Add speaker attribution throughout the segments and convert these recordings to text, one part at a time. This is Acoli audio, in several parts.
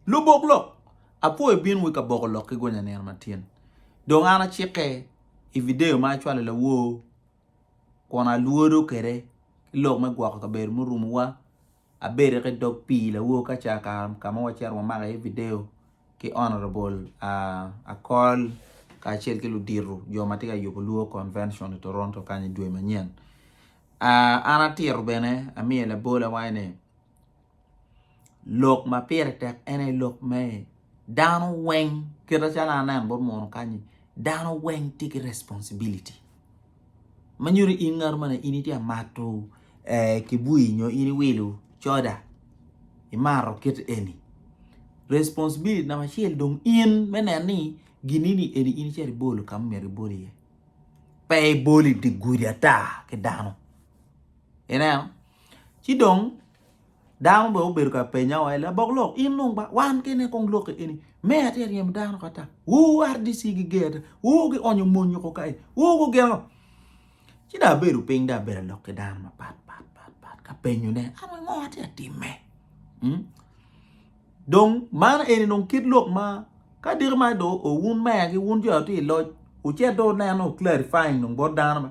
Speaker 1: Lubok lok, Apwo ibin wa i kaboko lok ki gonya nino matin. Dong an acike i vidio ma acwalo i lawor kun alwodo kwede ki lok me gwoko kabedo murumowa. Abedo ki dog pii lawor ka ca ka ma wacito wamako iye vidio ki Honourable Akol kacel ki ludito jo ma tye ka yubo Luo Convention i Toronto kany i dwe manyen. An atito bene amiyo labolawai ni. lok ma pire tek en aye lok me dano weng kite calo an aneno bot muno kany-nyi dano weng tye ki responsibiliti ma nyuto in ngat ma in itye ka mato kibui nyo in iwilo coda imato kit eni responsibiliti namba acel dong in me neno ni gin-ni eni in icito ibolo ka ma omyero ibol iye pe ibolo idye gudi ata ki dano ineno Ci dong dano bene obedo ka penya wa, labok lok in dong ba wan kene kong lokke eni meya tye ka ryemo dano oko ata, woo RDC giger ata, woo gionyo mony oko kae, woo gugin ngo? Ci dong abedo piny dong abedo ka lok ki dano mapat pat pat ka penyone an wai ngo atye ka timme? Dong man eni dong kit lok ma ka diki ma dong wun meya ki wun jo ma tye i loc wucit dong wuneno clarifying dong bot dano.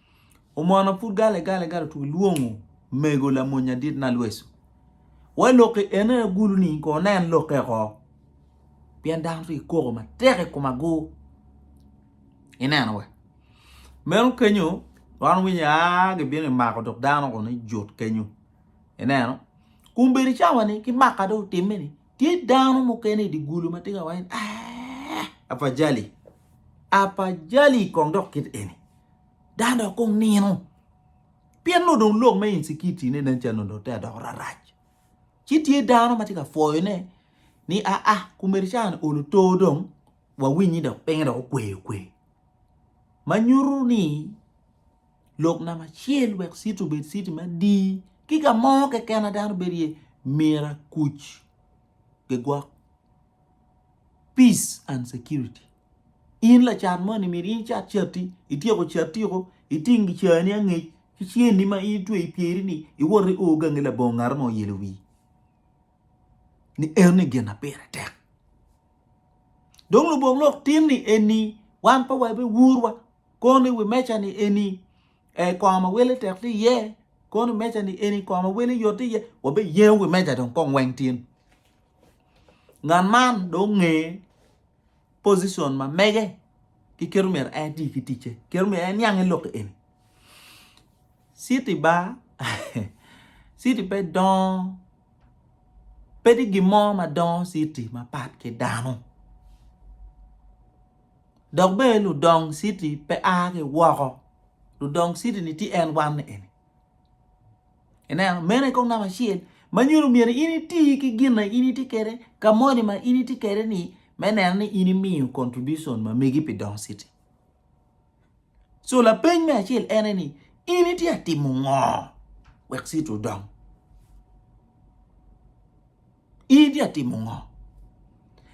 Speaker 1: Omono pud gale gale gale otugo lwongo mego lamony adit na lweco. Wai lokke ene na gulu ni ko nen lokke ko. Pien dano ri koko ma tek i kuma go. Ineno we. Meno kenyo wan winyo a gi bino i mako dok dano ko ni jut kenyo. Ineno. Kum bedi cawa ni ki maka do timme ni Tye dano mukene i dye gulu ma tye ka waco ni, ah, afajali, afajali kong dok kit eni, dano dok kong nino. Pien nongo dong lok me insecurity-ne nen calo nongo dong te adoko rarac. Ci tye dano ma tye ka pwoyone ni aa, ah, kumericani olo to dong, wawiny ni dok pinye dok okwe okwe. Ma nyuto ni lok namba acel wek citi obed citi madii ki ka mo keken ma dano bedo iye myero akuc gigwok peace and security in lacat moni myero in icat cati ityeko cati woko iting gicani angec ki ceni ma in itweyo i pyeri-ni iwot io gangi labongo ngat mo ilo wii ni enoni gin ma pire tek dong lubongo lok tin ni eni wan pe wabewurwa kono i wi meja ni eni kong mawele tek tye iye kono i wi meja ni eni kong mawele yot tye iye wa be yengo wi meja dong kong weng tin ngat man dong onge pocition ma mege ki kit myero en eti ki ticce kit myero en niang ki lok eni citi bar citi pe dongo pe tye gin mo ma dongo citi mapat ki dano. dok bene ludong citi pe a ki woko, ludong citi-ni tye en wan ni eni. Ineno, meno aye kong namba acel ma nyuto myero in iti ki gin ma in itye kwede ka moni ma in itye kwede-ni me neno ni in imiyo contribution ma megi pi dong citi. So lapeny me acel en aye ni in itye ka timo ngo wek citi odong? In tye ka timo ngo?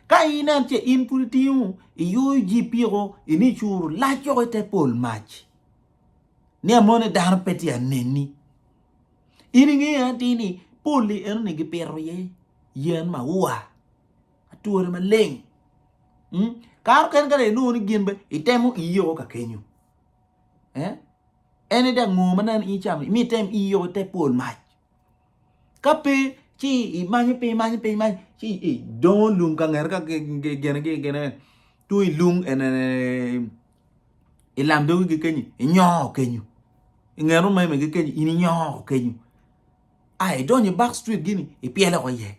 Speaker 1: Ka inen ce in pud itingo iyoyo jipiko in icuru lac yoko ite pol mac ni amoni dano pe tye aneni. In ingeyo atir ni poli enoni gipito iye yen maua ature maleng. Kare mukene kadong inongo ni gin bene itemo iyi o kakenyo. En ni dong ngo ma nen in icamo imi item iyi o ite pol mac. Ka pe ci imanyo piny imanyo piny imanyo ci idongo lum ka ngete ka gene gi gene tung ilung i lam dogi gi kenyi inyoko kenyu i nge rumeme gi kenyi in inyoko kenyu a idonyo i back street gini ipyelo woko iye.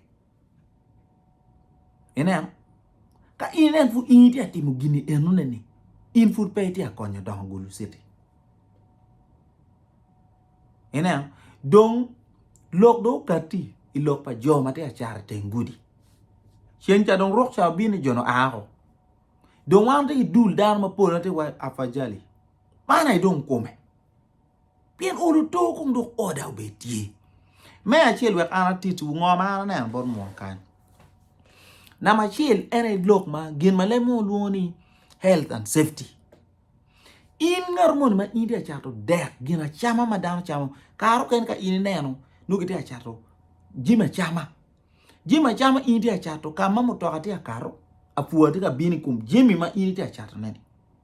Speaker 1: Ineno? Ka in inen pud in itye ka timo gin enoneni, in pud pe itye ka konyo dongo Gulu Citi. Ineno? Dong lok dong okatti i lok pa jo ma tye ka cat i teng gudi. Ceng ca dong ruk ca obino jo-ni oa woko. Dong wan watye ki dul dano mapol ma tye iwaci afajali. Man aye dong kome. pien olo oto kong dong oda obed tye me acel wek an atit wu ngo ma an aneno bot munu kany namba acel en aye lok ma gin ma leb mogo lwongo ni health and safety in ngat moni ma in tye ka cato dek gin acama ma dano camo kare mukene ka in ineno nongo kitye ka cato jami acama jami acama in itye ka cato ka ma mutoka tye ka kato apwa tye ka bino i kom jami ma in itye ka catoneni.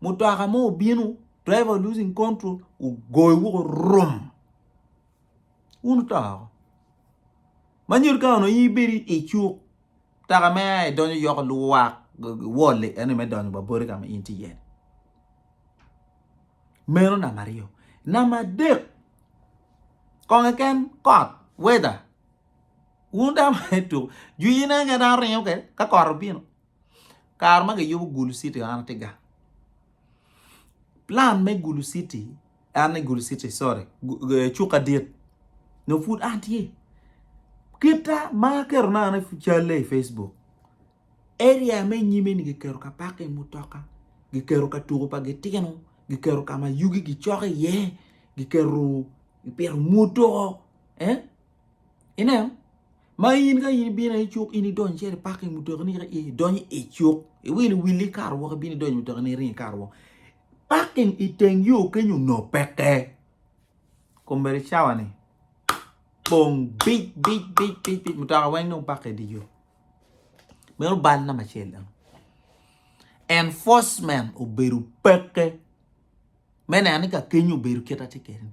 Speaker 1: mutoka mo obino driver losing control ogoyo woko rum wun wuto woko ma nyuto kany onongo in ibedo icuk mutoka mere aye donyo yoko luwak wol-li ento me donyo wa boti ka ma in itye iye-ni meno namba aryo, namba adek kong keken kot weather wun dano ma itye ka tuku jwi ne keken dano ringo kwede ka kot obino. kare ma giyubo Gulu city an atye gang plan me Gulu city en ni Gulu city sorry cuka dit nyo pud an tye kita ma aketo na an calle i Facebook area me nyime ni giketo ka parking mutoka giketo ka tuko pa gitino giketo ka ma yugi gicok iye giketo gipito mutoka. Ineno? Ma in ka in ibino i cuk, in idonyo cer i paking mutokini ka i donyo i cuk, iwilo wili ikato woko ibino idonyo mutokini iringo ikato woko. Paking i teng yo kenyo onongo peke. Kombeddi cawani pong bic bic bic bic bic mutoka weng dong pakke idye yo. Meno bal namba acel dong. Enforcement obedo peke me neno ni ka kenyo obedo kit ma tye kwede-ni.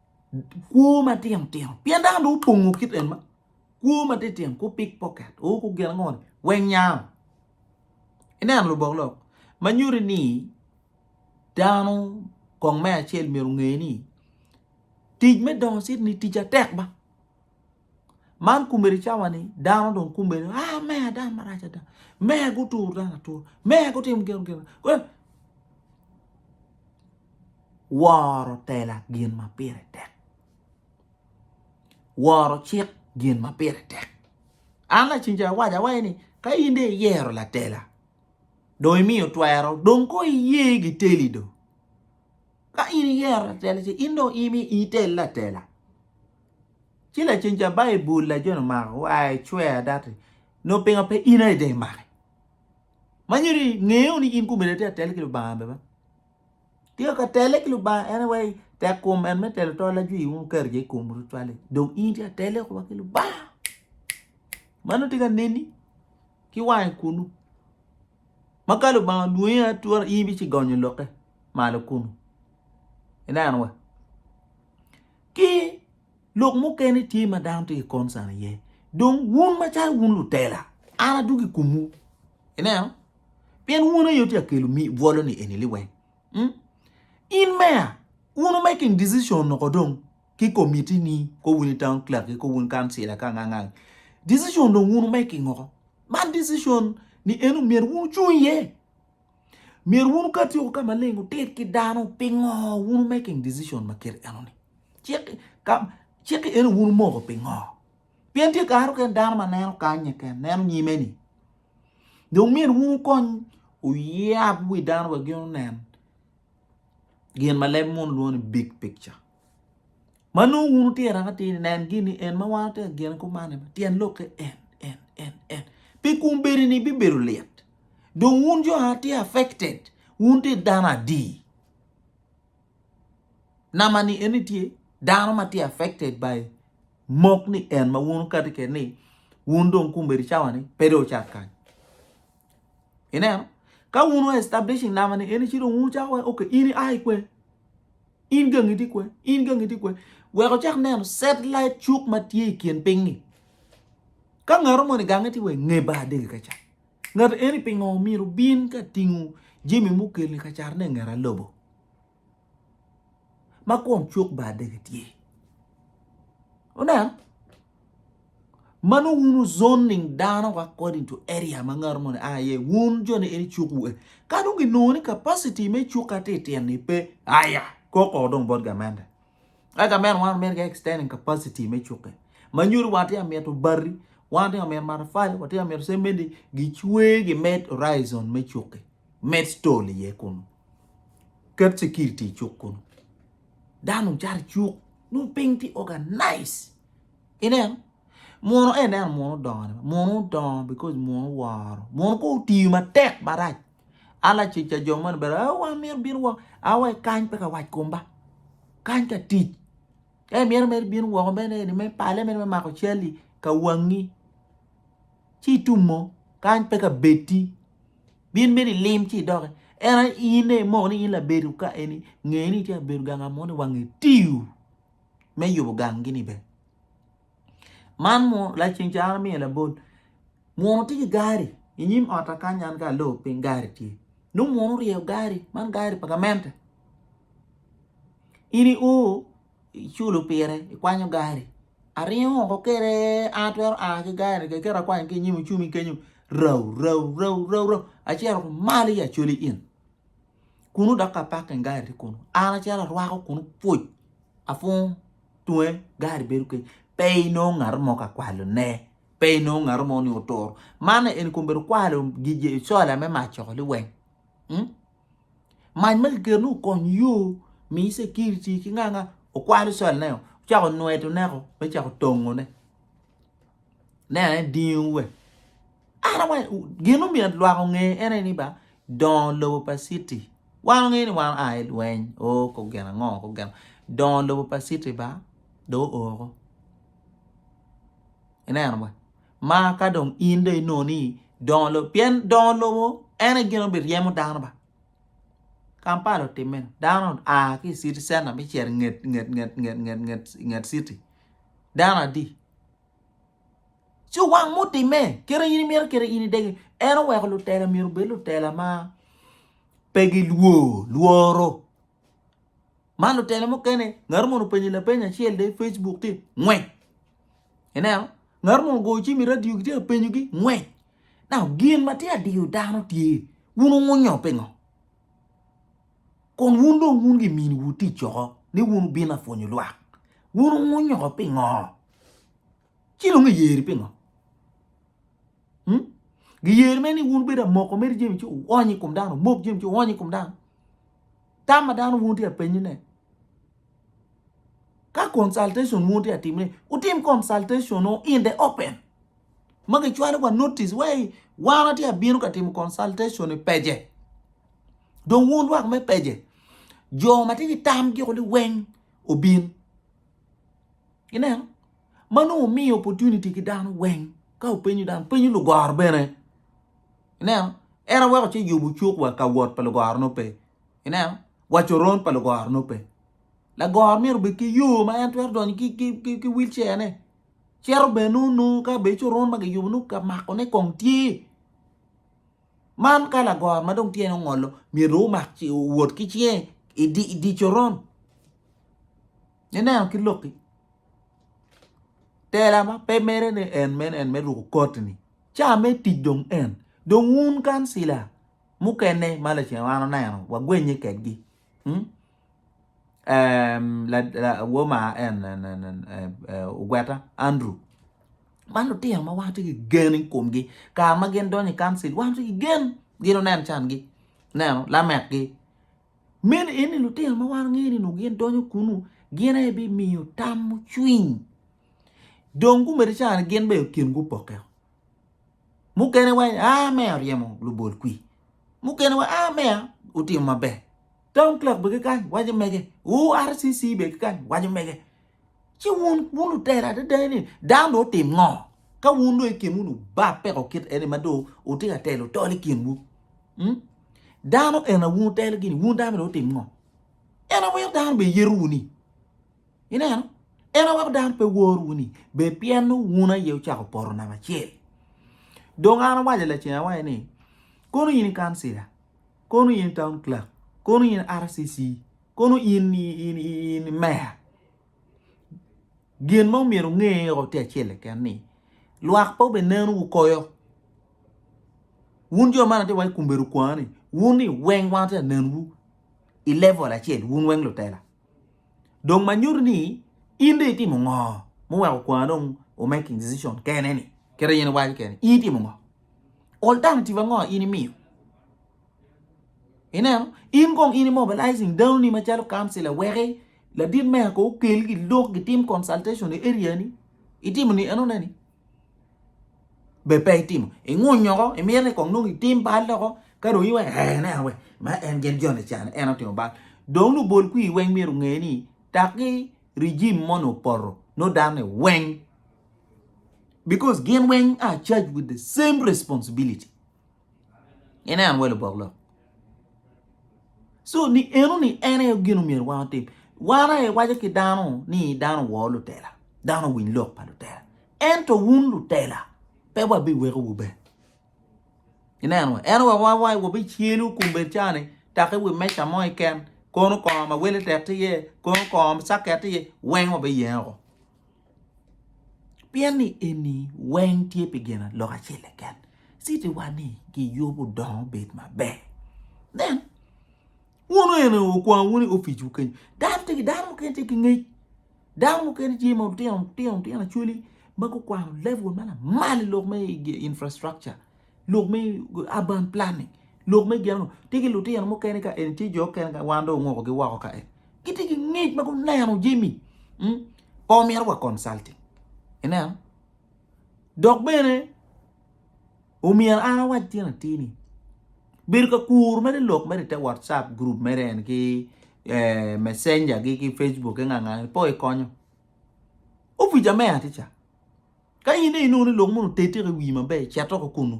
Speaker 1: kwo matino tino pien dano dong opongo kit en ma kwo matino tino ku pik poket o ku gin ango ni wenya ineno lubok lok ma nyuti ni dano kong me acel myero onge ni tic me dongo citi ni tic atek ba Man kumere cawa ni dano dong kumere ah meya dano marac ada meya guturo dano atura meya gutimo gin gin woro tela gin ma pire tek woro cik gin ma pire tek an lacen ca awaco awaco ni ka in dong iyero latela dong imiyo twero dong ko iye giteli dong ka in iyero latela ce in dong imi itel latela. Ci lacen ca Baibul lajone omako wa i cwer adati nongo pingo pe in aye dong imake? Ma nyuto ni nge wunu ni in kumeni atye ka telle ki Lubanga bene. Tika ka telle ki Lubanga en aye wai tek kom en me telo tol ajwi wunu keto je i komu tutwal-li dong in itye ka telle wa ki Lubanga. Mano tye ka neni ki wange kunu ma ka Lubanga olwongi aye atura in ibici gonyo lokke malo kunu. Ineno wa? ki lok mukene tye ma dano tye ki concern iye dong wun macalo wun lutela an adwogo i komwu ineno pien wun aye tye ka kelo bwolo-ni eni liweng mm? in meya wun making decision noko dong ki komitini ko wun i town clerk ki ko wun kancila ka nga ngang decision dong wun making oko man decision ni eno myero wun wucung iye Myero wun ka atyeko ka maleng wuted ki dano pingo wun making decision ma kit enoni. Cik ka cik eno wun moko pingo? Pien tye kare oken dano ma neno kanye ken, neno nyime ni. Dong myero wun wukony uyab wi dano wek gin onen gin ma leb mun lwongo ni big picture. ma nongo wun wutye araka tir-ri, nen gin ni en ma wan watye ka gene kumane, tyen lokke en, en, en, en. Pi kun bedini bibedo lit. Dong wun jo ma wutye affected, wun wutye dano adi? Nama-ni en ni tye dano ma tye affected by mok ni en ma wun wukati kwede ni wun dong kombeddi cawa-ni pe dong wucat kany. Ineno? Ka wun wu establishing nama-ni en ni ci dong wun wucako waci okay in ia i kwen? In gangi tye kwen? In gangi tye kwen? Wek ocak neno satellite cuk ma tye i kin piny-ngi. Ka ngato moni gange tye wa nge bar dege ka cat. Ngato eni pingo omyero bin ka tingo jami mukeli ka cat ne ngera lobo? Ma kun cuk bar dege tye. Oneno? ma nongo wun wuzoning dano according to area ma ngat moni a iye, wun jo ni en icuk wu e. Ka dong ginongo ni capacity me cuk ka ti tyen ni pe, aya, koko dong bot gamente. Ka gamente wan meri ka extending capacity me cukke. Ma nyodi wan ti amito bari, wan ti amito matafali, wan ti amito semendi, gicwe gimed horizon me cukke. Med stall iye kunu. Ket security i cuk kunu. Dano dong cato i cuk, nongo piny ti organize. Ineno? Muno en neno muno odongo, muno odongo because muno woro, muno ko otiyo matek marac. Ala cica jo moni bene, oh wan myero bino woko, awe kany pe ka wac kom ba. Kany ka tic. Ka imyero mere bino woko mene ni me pale mene me mako cali ka wangi. Ci itumo kany pe ka beti. Bin mene ilim ci idoki. En aye in aye imoko ni in labedi ka eni, ngeni itye ka bedo ganga moni wange tiyo. me yubo ganggi-ni bene. Man munu laa ceng caro amiya labol munu tye ki gari i nyim ot-ta kany an ka alo piny gari tye nongo munu oryeyo gari man gari pa gamente in i o iculo pire ikwanyo gari aringo woko kwede an atwero a ki gari keken kit akwanyo ki i nyim ocumi kenyo rau rau rau rau rau acito malo i acoli in. Kunu dok ka pakke gari tye kunu. An acalo arwako kunu pwoc apwongo tunge gari bedo kec pe inongo ngato mo ka kwalone pe inongo ngato mo ni oturo man eni kong bedo kwalo gigi cola me mac coko liweng mac ma kiketo ni okony yo mi security ki nga nga okwalo colaneo ocako nwedo neko me cako tongone. ne ane dingo we ara wa gin omiyo lwak onge ene ni ba dongo lobo pa city wan onge ni wan aye lweny o ko gin ango ko gin dongo lobo pa city ba do oko ineno wa ma ka dong in do inongo ni dongo lobo pien dongo lobo en aye gin obiryemo dano ba Kampala otimme dano aa ki city center me cito inget nget nget nget nget city dano adi? Ci wang ma otime kit in imito kit in idegi en oweko lutela myero obed lutela ma pe gilwor lworo ma lutela mukene ngat moni openyi lapeny acel de Facebook tye ngwec ineno ngat moni ogoyo cim i radio gitye ka penyogi ngwec now gin ma tye adiyo dano tye wun wungunyo pingo? Kun wun dong wun gi miniwu tic oko ni wun wubino apwonyo lwak. Wun wunyoko pingo? Ci dong giyeri pingo? Hmm? Giyeri me ni wun bedo amoko meri jemi ci uwony i kom dano, omok jemi ci uwony i kom dano. Tam ma dano wun tye apenyine. Ka consultation wu tye ka timme, wutim consultation wu in the open. Ma gicwalo wa notice wai wan watye ka bino ka timo consultation i page. Dong wun lwak me page, jo ma tye ki tam giko ni weng obin. Ineno? Ma nongo wumiyo opportunity ki dano weng ka wupenyo dano, penyo lugoro bene. Ineno? En aweku ci yubu cuk wa ka wot pa lugoro-nu pe. Ineno? Wa coron pa lugoro nongo pe. Lagoro myero obed ki yo ma en twero donyo ki, ki, ki, ki wilcene. Cito bene nongo nongo ka bene coron ma kiyubo nongo ka makone kong tye. Man ka lagoro ma dong tyene ongolo myero omak ci owot ki cinge i di, i di coron. Ineno ki lokki? Tela ma pe mere ni en mene en me ruko koti-ni. Ca me tic dong en. Dong wun kancila mukene ma lacen wan oneno wagwennye kwedgi ogweta Andrew man lutino ma wan watye ki gen i komgi kare ma gin donyo i kancil wan watye ki gen gin onen cangi ineno lamekgi meno eni lutino ma wan wangeyo ni onongo gin donyo kunu gin aye bimiyo tam mucwiny dong gumiti cani gin bene kingi opokke Mukene wa ah meya oryemo lubol kwi. Mukene wa ah meya otimo maber. Town clerk be kikany waco mege. URCC be kikany waco mege. Ci wun wun lutera adada ni dano do otim ngo? Ka wun do ikin wun obab peko kit eni ma do utye ka telo tol i kinwu. Hmm? Dano ena wun utelo gini wun dano do otim ngo? En awer dano be yerowu ni. Ineno? En aweko dano pe wor wuni, bed pien nongo wun aye wucako poto namba acel. Dong an awaco lacen awaco ni, kono in i kancila, kono in i town clerk, kono in i RCC, kono in i meya, gin ma omyero nge o tye acel keken ni, lwak pe obeneno wu koyo. Wun jo man atye waco kombeddi okwa ni, wun ni weng wan atye ka nenwu i level acel, wun weng lutela. dong ma nyuto ni in dong itimo ngo muweko kwar dong o making decision kene ni kede in iwaco kene in itimo ngo alternative ango in imiyo ineno in kong in imobilizing dano ni macalo council aweki ladit meya ko okel gi lok gitim consultation i area ni itimo ni enone ni be pe itimo ingunyo oko imito ni kong nongo itim bal loko ka dong iweko ee aneno wek ma en gin joni ca ni en otimo bal dong nongo bol kwir weng myero onge ni taki regime moni opoto nongo dano ni weng because gin weng are charged with the same responsibility. Inen welo bok lok. So ni eno ni en aye gin omyero wan otim. Wan aye waco ki dano ni dano woo lutela, dano winy lok pa lutela. Ento wun lutela pe wabiweko wu be. Inen wa, en wa wa wa wabi cielu kum bed cani taki wi meca mo iken kono kongo ma wele tek ti ye, kono kongo saket ti ye, weng wabi yenge woko. Pien ni eni weng tye pi gin lok acel keken, citi wa ni giyubo dongo bed maber. Nen, wun eni okwang wun i opic wu kenyu, dano tye ki dano mukene tye ki ngec, dano mukene tye ma tino tino tino acwali ma gukwano level ma lamal i lok me infrastructure. Lok me urban planning, lok me gen onongo tye ki lutino mukene ka eni tye jo mukene ka wan dong ongokogi woko ka eni. Gitye ki ngec ma guneno jami hmm, pe omyero wa consulting. Ineno? Dok bene omyero an awac tyen atir ni bedo ka kuru mere lok mere i te whatsapp group mere en ki eh, messenger gi ki facebook ki nga nga ni po ikonyo. Opica meya tye ca. Ka in dong inongo ni lok moni otettiko i wii maber, cet oko kunu.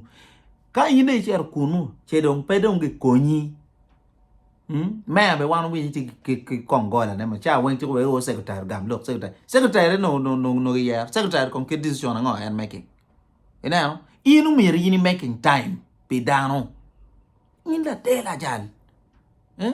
Speaker 1: Ka in dong icito kunu, ce dong pe dong gikonyi. Mm? Meya be wan winyo ci kong gola ne maca weng ci wero secretary gam lok secretary. Secretary no no no no yer. Secretary kong kit decision ango en making. Ineno? In umir in making time pi dano. In later lajal. Eh?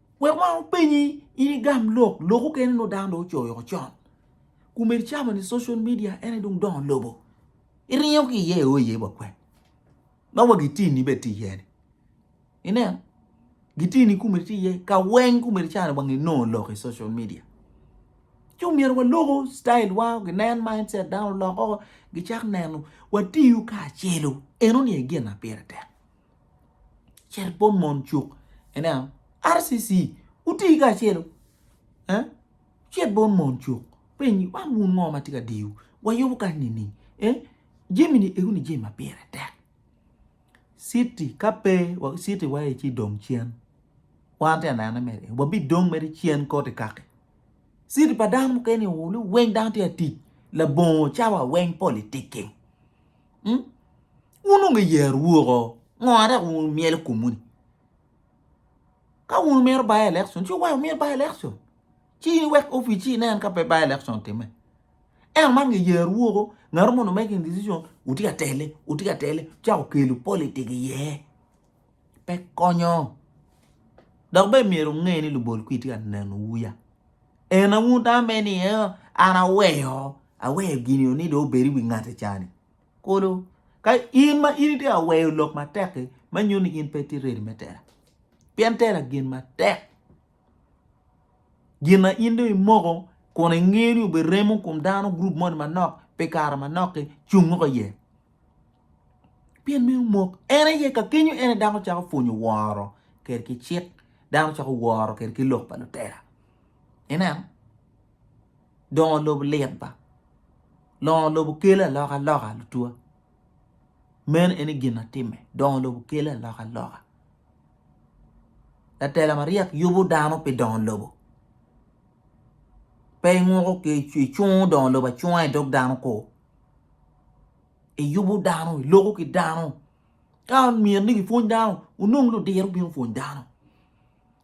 Speaker 1: Wek wang openyi in igam lok, lok okene nongo dano dong ocoyo woko con. Kume icamo ni social media en aye dong dongo lobo. Iringo ki iye io iye wa kwen. Ma wa gitini be ti iye ni. Inen, gitini kume ti iye, ka weng kume icano wang inongo lok i social media. Ci omyero wa loko style wa, ginen mindset dano oloko, gicak neno, watiyu kacelu. Eno ni aye gin na pire tek. Cel bot mon cuk ineno RCC wuti kacelu eh cet bot mon cuk piny ni man wun ngo ma tye ka diyowu wayubo kany nining eh jami ni eko ni jami ma pire tek citi ka pe citi wa aye ci dong cen wan te anene mere eh wabidong mere cen koti kaki citi pa dano mukene oo ni weng dano tye ka tic labongo cawa weng politicking. wun onongo iyero woko ngo ma dok wumyelo komwu ni ka wun wumito by election ci wuweko myel by election ci in iwek opic ci inen ka pe by election otimme ento man nge yero woko ngat mo onongo making decision wutye ka tele wutye ka tele wucako kelo politic iye pe konyo dok bene myero wunge ni lubol kwir tye ka nenowu ya en aun tamo mere ni an aweyo aweyo gini ni dong obed i wi ngate cani. Kulu ka in ma in itye ka weyo lok matek-ki, meno nyuto ni in pe itye redi me tela pien tela gin matek. Gin ma in dong imoko kun ingeyo ni oberemo i kom dano gurup moni manok pi kare manok-ki cung woko iye pien meno omok. En aye ka kenyo en aye dano cako pwonyo woro kwede ki cik, dano cako woro kwede ki lok pa lutela. Ineno? dongo lobo lit ba dongo lobo kelo aloka loka lutwa meno en aye gin atime dongo lobo kelo aloka loka latela maryek yubo dano pi dongo lobo pe inguko icungo dongo lobo acunga idog dano kor iyubo dano iloko ki dano ka myero ni kipwony dano onong ludiro bino pwony dano.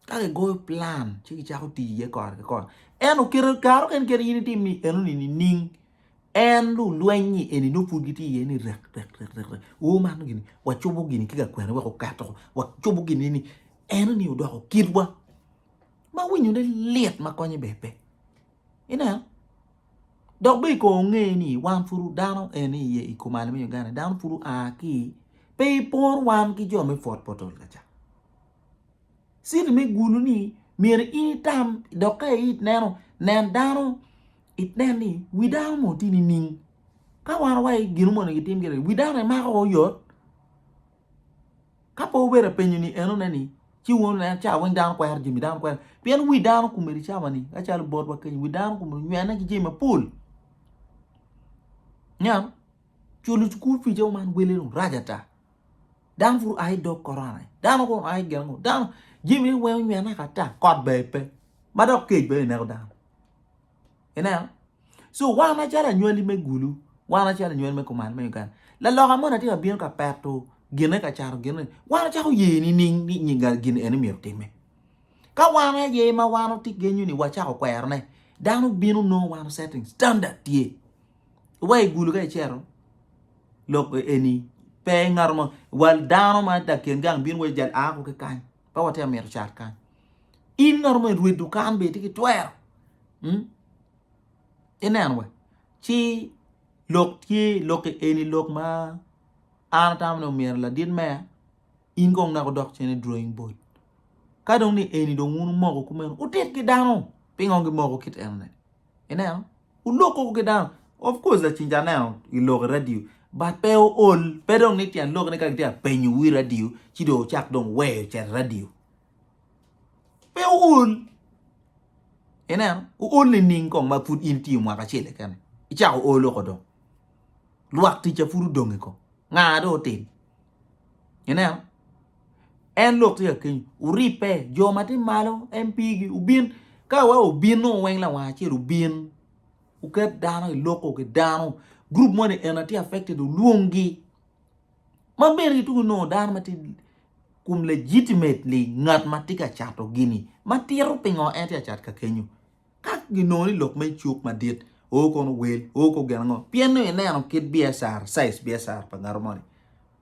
Speaker 1: ka kigoyo plan ci gicako tic iye kore ki kore ento kare mukene kadi in itim ni enoni nining en lulweny-nyi eni nongo pud gitye iye ni rek rek rek rek o man gini wacobo gini ki lakwena wek oket oko wacobo gini ni enoni odoko kitwa ma winyone lit ma konye bene pe ineno dok bene i kor onge ni wan pud dano en aye iye i kom ali me Uganda dano pud oa ki pe ipor wan ki jo me pwod potol kacan Citi me gulu ni myero in itam dok ka i neno nen dano inen ni wi dano mo tye nining ka wan waye gin mogo onongo gitim gire wi dano imako woko yot ka pe obedo apenyo ni enone ni ci wun nen ca weng dano kwero jami dano kwero pien wi dano komedi cawa ni acalo botwa kenyo wi dano komedi onywene ki jami mapol niang culo cukul pic aye man wele dong rac ata Dano pud oa ki dog korona, dano kong oa ki gin ango, dano jami ni weng onywene woko ata, kot bene pe ma dok kec bene ineko dano ineno so wan macalo anywali me gulu wan macalo anywali me kuman me Uganda laloka moni atye ka bino ka peto gine ka cato gine ni wan wacako ye nining ni nyinga gin eni myero otime ka wan aye ma wan wati genyo ni wacako kwerone dano bino nongo wan setting standard tye. wa i gulu ka icero lok eni pe ngato mo wal dano ma laken gang bino wa jal ako ki kany pe watye ka mito cat kany in ngato mo irwe dukan bene itye ki twero hmm? ineno wa ci lok tye lok eni lok ma an atamo ni omyero ladit meya in kong naka odok cen i drawing board ka dong ni eni dong wun wumoko kumeno wutit ki dano pingo gimoko kit enoni Ineno? Oloko ki dano. Of course lacen ca aneno i lok i radio but pe ool, pe dong ni tyen lok ni ka gitye ka penyo wi radio ci dong ocak dong weyo cet i radio. Pe ool. Ineno? Ool nining kong ma pud in tiyo mwaka acel keken icako olo ko dong. Lwak ticca pud odongi ko. Nga dong otim. Ineno? En lok tye ka kenyu, wuribbe, jo ma tye malo en pigi, wubin. Ka wa obino weng lawang acel obin, wuket dano i loko ki dano, gurup moni eni atye affected wulwongi. Ma bene kitugo nongo dano ma tye kum legitimately ngat ma tye ka cato gini, ma tito pingo en tye ka cat ka kenyu. Ka ginongo ni lok man cuk madit, oo kono wel, oo kor gin ango? Pien nongo ineno kit biacara, size biacara pa ngat moni.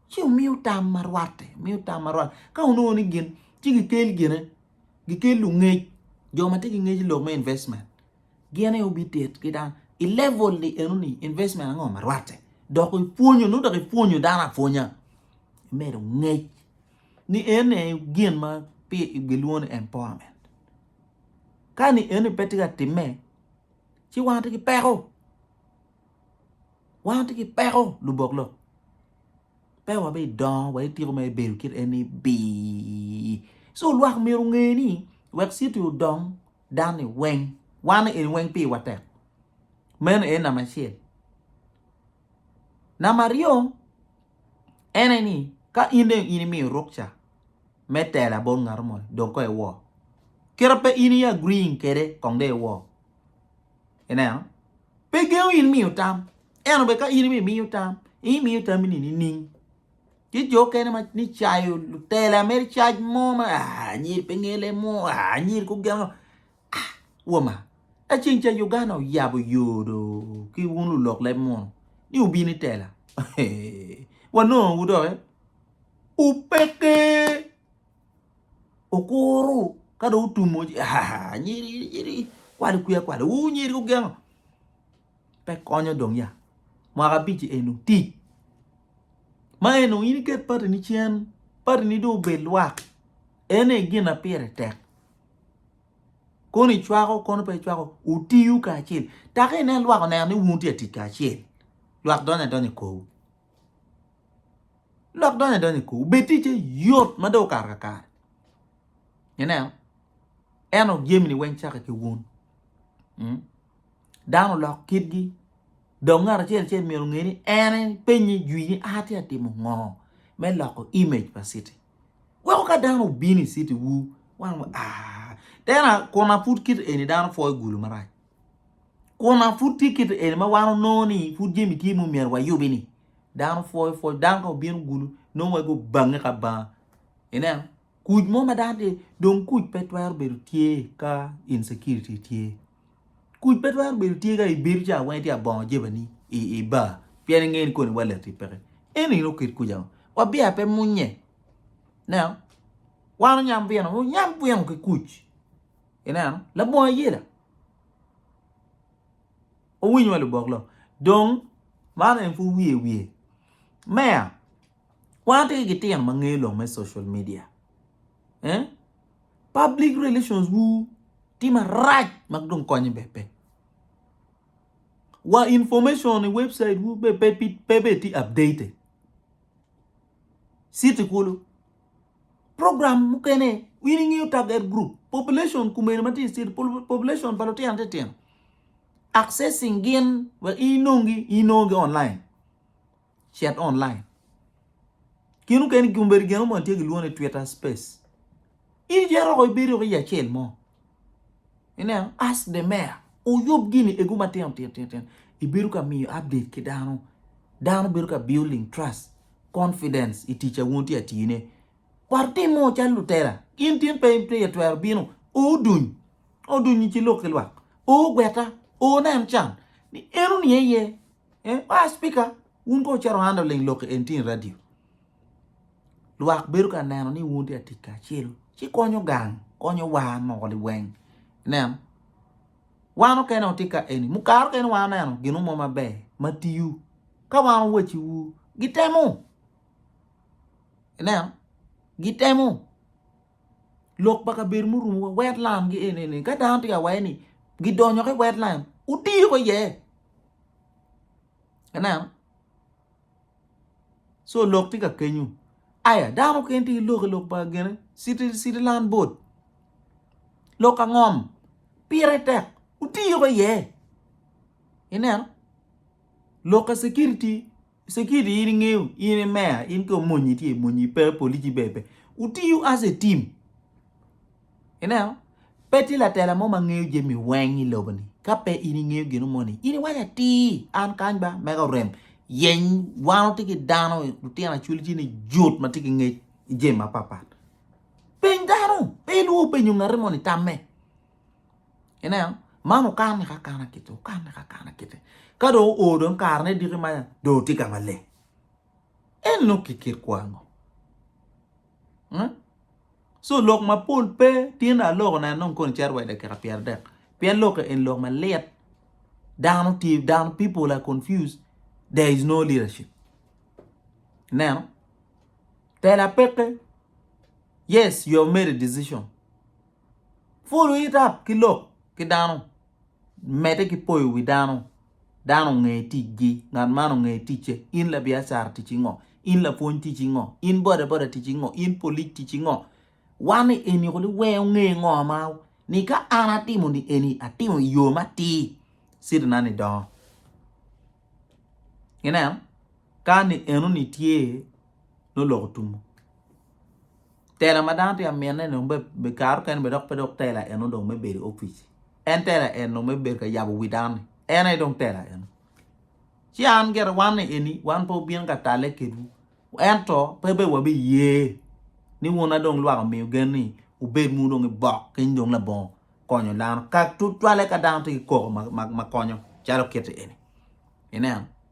Speaker 1: Ci omiyo tam ma rwatte, miyo tam ma rwatte. Ka onongo ni gin, ci gikel gine, gikel lungec, jo ma tye ki ngec i lok me investment. Gin aye obitit ki dano. I level ni eno ni investment ango ma rwatte. Dok ipwonyo, nongo dok ipwonyo dano apwonya. Imedo ngec ni ene gin ma pi gilwongo ni empowerment. Kani eni pe tye ka timme ci wan tye ki peko, wan tye ki peko lubok lok pe wabidongo wa itiko ma ibedo kit eni bii. So lwak myero onge ni wek citi odong dani weng wan eni weng piwa tek, meno eni namba acel. Namba aryo en aye ni ka in dong in imiyo rukca me tela bot ngat mo dong kong iwor. Kit ma pe in i agreeing kwede kong dong iwor. Ineno? Pe gengo in miyo tam. Ento bene ka in bene imiyo tam, imiyo tammi ni nining? Tye jo okene ma ni cayo lutela mere cac mo ma anyir pe ngele mo, anyir kogeno. Ah, woma! Ka ceng ca Uganda oyabo yo do ki wun lulok leb munu ni wubino i tela, wanongowu doki. Upeke! Okuru ka dong otumo ci ah, nyiri, nyiri, kwali kwiya kwali, wu nyiri gugengo. Pe konyo dong ya. Mwaka abic enu tic. Ma enu in iket patini cen, patini dong obed lwak. Ene gin ma pire tek. Kono icwako kono pe icwako wutiyo kacel taka inen lwak oneno ni wun wutye ka tic kacel lwak donyo adonya i korwu lwak donyo adonya i korwu bed ticce yot ma dong okato kakare ineno ento jamini weng cake ki wun dano oloko kitgi dong ngat acel acel myero onge ni en aye penye jwinye ni atye ka timo ngo me loko image pa citi. Weko ka dano obino i city wu wan wa aah then kun pud kit eni dano pwoyo gulu marac kun pud tye kit eni ma wan onongo ni pud jami tye ma myero wayubi ni dano pwoyo pwony dano ka obino gulu nongo wai gubange ki abanga ineno kuc mo ma dano tye dong kuc pe twero bedo tye ka insecurity tye. Kuc pe twero bedo tye ka i bedo ca weng itye ka bongo jebeni i bar pien ingeyo ni koni wa lati peke eno in oket kuc ango wa biya pe munye ineno wan onyam bino wunyam bino ki kuc ineno labongo ayela wuwiny wa lubok lok dong man en pud wiye wiye meya wan watye ki gitino ma ngeyo lok me social media. public relations wu tye marac ma dong konye bene pe wa information i website wu bene pe pe bene tye updated city kulu program mukene in ingeyo target group population kumene ma tye i city population pa lutino titino accessing gin wek inongi inongo gi online chat online. Kinu keni gin bedo gin mo tye ki lwone Twitter space. Ini je roko ibedi roko i acel mo. Ineno, ask the mayor. Uyub gini egu matino tino tino tino. Ibedo ka miyo update ki dano. Dano bedo ka building trust, confidence i tica wun tye atine. War tim mo cal lutela. In tin pe in pe twero bino. O duny. O duny ci lok ki lwak. O gweta. O nen can. Ni eno niye ye. Eh, ah speaker, wun ko wucito handle ling lok en tin radio. Lwak bedo ka neno ni wun tye atic kacelo. Ci konyo gang, konyo war moko liweng. Nen, wan okene oti ka eni. Mukaro kene wan neno gino mo maber, matiyu. Ka wan owaci wu, gitemo. Nen, gitemo. Lok pa kabedo murumu wa, wetland gi eni eni. Ka dano tye ka waye ni, gidonyo ke wetland, utiyo ko ye. ineno so lok tye ka kenyo aya dano mukene tye ki lok i lok pa gine citiland bot lok ka ngom pire tek wutiyo ki iye ineno lok ka cekiriti. Security in ingeyo in i meya in ko mony itye mony ipe polici be pe utiyo as a team ineno pe tye latela mo ma ngeyo jami weng i lobo ni ka pe in ingeyo gino mo ni in iwaco atir an kany ba mega orem yeny wan watye ki dano lutino acwil ci ni jut ma tye ki ngec i jami mapat pat peny dano pe ilwor penyo ngati moni tamme Ineno? Man okanne ka akana kiti, okanne ka akana kiti. Ka dong oo dong karene diki ma dong otye ka maleng, en nongo ki kit kwo ango? Co lok mapol pe tyen aloko neno dong koni cito wa i dakika pyeradek pien lok eni lok malit dano tye dano people are confused there is no leadership ineno? Tela peke yes you have made a decision. Pwolo ita ki lok ki dano, medde ki poyo wi dano. Dano onge ticgi, ngat man onge ticce. In labiacara ticci ngo? In lapwony ticci ngo? In bodaboda ticci ngo? In polic ticci ngo? Wan ni eni kuli weng onge ngo ma ni ka an atimo ni eni atimo i yo matir city na ni dongo. Ineno? Ka ni eno ni tye noloko tumo. Tela ma dano tye ka mine ni dong kare mukene dong pe dok tela eno dong me bedo i opic en tela eno me bedo ka yabo wi dano ni en aye dong tela eno ci an gire wan ni eni wan pe wabino ka talle kedwu ento pe bed wabiye ni wun ma dong lwak omiyo gen ni wubed wunu dong i bok keny dong labongo konyo dano ka tutwalle ka dano tye ki koko ma konyo calo kiti eni ineno.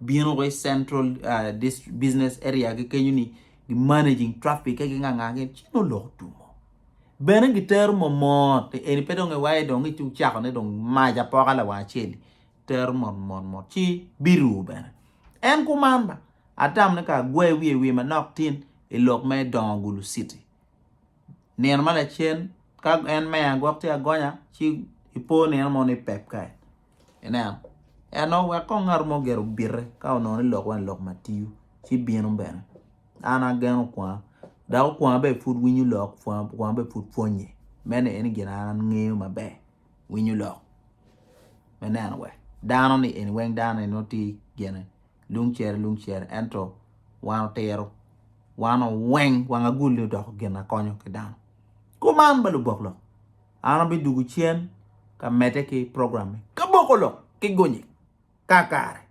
Speaker 1: bino woko i central business area gi kenyo ni gi managing traffic ka gi nganga gin ci nongo lok otumo bene gi tero momot eni pe dong iwaye dong iti ucako ne dong mac apoka lawang acel tero mot mot mot ci biru bene en kuman ba atam ne ka agwe wiye wiye manok tin i lok me dongo gulu city nino ma lacen ka en meya gwok tye agonya ci ipo nino mo ni pep kany inen ento wek kong ngat mo gire obite ka onongo ni lok weng lok matiyo ci bino bene an ageno kwanga dok okwanga bene pud winyo lok kwanga bene pud pwonye meno eni gin an angeyo maber winyo lok me neno wek dano ni eni weng dano ni nongo tye gene lung cere lung cere ento wan otiro wan oweng wang agulli odoko gin akonyo ki dano kuman ba lubok lok an abi dugu cen ka mede ki program me kaboko lok ki gunye kakare.